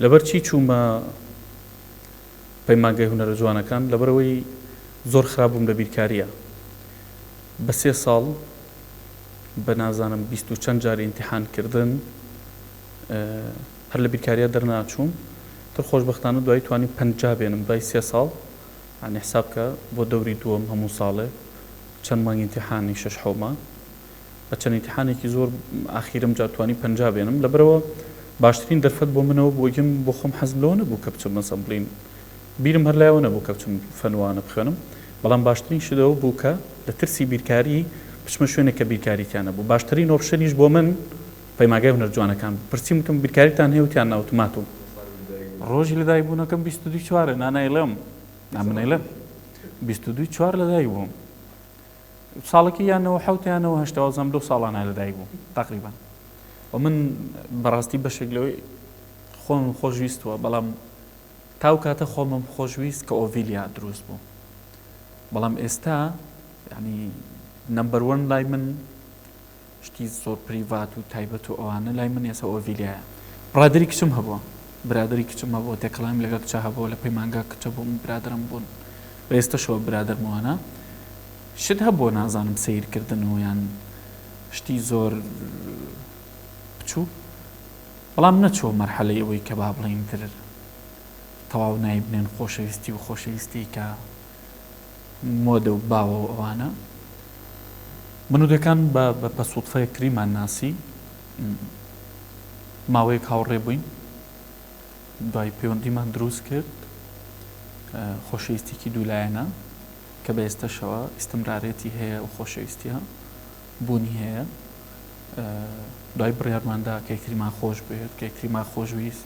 لەبەر چی چوومە پەیمانگای هونەرە جوانەکان؟ لەبەرەوەی زۆر خراپ بووم لە بیرکارییە. بە سێ ساڵ بە نازانم بیست و چەند جار ئیمتیحان کردن هەر لە بیرکارییە دەرناچووم. تر خۆشبەختانە دوایی توانیم پەنجا بێنم دوای سێ ساڵ. یانی حساب بکە بۆ دەوری دووەم هەموو ساڵێ چەند مانگ ئیمتیحانی شەش حەو مانگ. لە چەند ئینتیحانێکی زۆر ئاخیر ئەمجا توانی پەنجا بێنم لەبەرئەوە باشترین دەرفەت بۆ منەوە بوو یەم بۆ خۆم حەزم لەوە نەبوو کە بچم ئەسەمبڵین بیرم هەر لایەوە نەبوو کە بچم فەنوانە بخوێنم بەڵام باشترین شت ئەوە بوو کە لە ترسی بیرکاری بچمە شوێنێک کە بیرکاری تیا نەبوو باشترین ئۆپشنیش بۆ من پەیماگای هونەرجوانەکان بوو پرسیم وتم بیرکاریتان هەیە وتیان نا وتم ماتوو ڕۆژی لەدایکبوونەکەم بیست و دوو چوارە نا نایڵێم نا من نایڵێم بیست و دوو چوار لەدایکبووم ساڵەکی یا نەوە حەوت یا نەوە هەشت وازم لەو ساڵانە لەدایک بووم تقریبا و من بەڕاستی بەشێک لەوەی خۆم خۆشویستوە بەڵام تاو کاتە خۆمم خۆشویست کە ئۆڤیلیا دروست بوو بەڵام ئێستا ینی نمبەروەن لای من شتی زۆر پریڤات و تایبەت و ئەوانە لای من یەسە ئۆڤیلیایە برادەری کچم هەبووە برادەری کچم هەبووە تێکەڵاویم لەگەڵ کچە هەبووە لە پەیمانگا کچە بووم برادەرم بوون و ئێستەشەوە برادەرم وانە شت هەبووە نازانم سەیرکردن و یان شتی زۆر بچوو بەڵام نەچووە مەرحەلەی ئەوەی کە با بڵێین تر تەواو نایبنێن خۆشەویستی و خۆشەویستی کە مۆدە و باوە و ئەوانە. من و دەکان بە بە سوتفەیەک تریمان ناسی. ماوەیەک هاوڕێ بووین. دوای پەیوەندیمان دروست کرد. خۆشەویستیکی دوولایەنە کە بە ئێستەشەوە ئیستمرارێتی هەیە و خۆشەویستیە بوونی هەیە. دوای بڕیارماندا کە یەکتریمان خۆش بوێت کە یەکتریمان خۆشویست.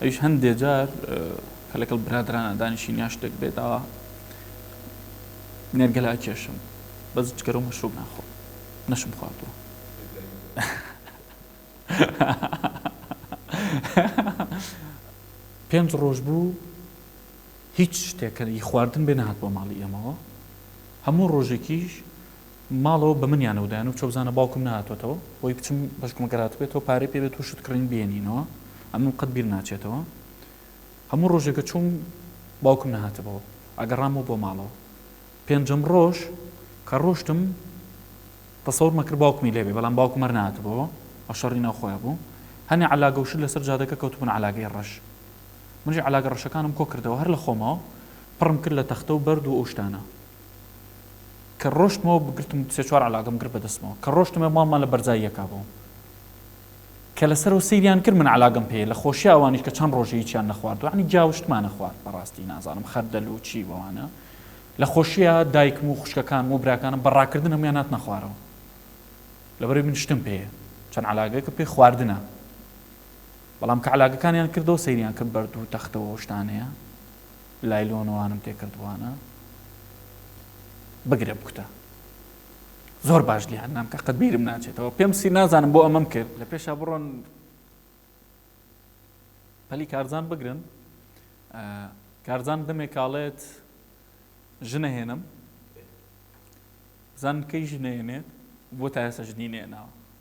ئەویش هەندێ جار کە لەگەڵ برادەرانە دانیشین یا شتێک بێ داوا نێرگەلا کێشم بەس جگەرە و مەشروب ناخۆ نەشم خواردووە پێنج ڕۆژ بوو هیچ شتێکەری خواردن بێ نهات بۆ ماڵی ئێمەوە هەموو ڕۆژێکیش ماڵەوە بە منیان و دایانم چۆ بزانە باوکم نەهاتۆتەوە هۆی بچم بەشکم گەر هاتبێتەوە پارەی پێ بێت و شت کڕین بێنینەوە ئەمەم قەت بیر ناچێتەوە هەموو ڕۆژێک کە چووم باوکم نەهاتبەوە ئەگەڕامەوە بۆ ماڵەوە پێنجەم ڕۆژ کە ڕۆشتم تەسەور مەکرد باوکمی لێبێ بەڵام باوکم هەر نەهاتبەوە ئەو شەڕی ناو خۆیان بوو هەنێ عەلاگە و شت لەسەر جادەکە کەوتبوون عەلاگەی ڕەش منیش عەلاگە ڕەشەکانم کۆ کردەوە هەر لە خۆمەوە پڕم کرد لە تەختە و بەرد و ئەو شتانە کە ڕۆشتمەوە بگرتم سێ چوار عەلاگەم گرت بەدەستمەوە کە ڕۆشتمە ماڵمان لە بەرزای یەکا بوو کە لەسەرەوە سەیریان کرد من عەلاگەم پێ لە خۆشی ئەوانیش کە چەند ڕۆژە هیچیان نەخواردوە عنی جاوشتمانە خوارد بەڕاستی نازانم خەردەل و چی بەوانە لە خۆشیە دایکم و خوشکەکانم و براکانم بە ڕاکردن هەمویان ناتنە خوارەوە لەبەرەی من شتم پێیە چەند عەلاگەکە پێ خواردنە بەڵام کە عەلاگەکانیان کردەوە سەیریان کرد بەرد و تەختەوە شتانەیە لایلۆنوانم پێ کردوانە بگرە بکوتە زۆر باش لیان نام کە قەت بیرم ناچێتەوە پێم سی نازانم بۆ ئەمەم کرد لە پێشا بڕۆن پەلی کارزان بگرن کارزان دەمێ کاڵێت ژنەهێنم زان کەی ژنێنێت بۆ تا ئێستا ژنی نێناوە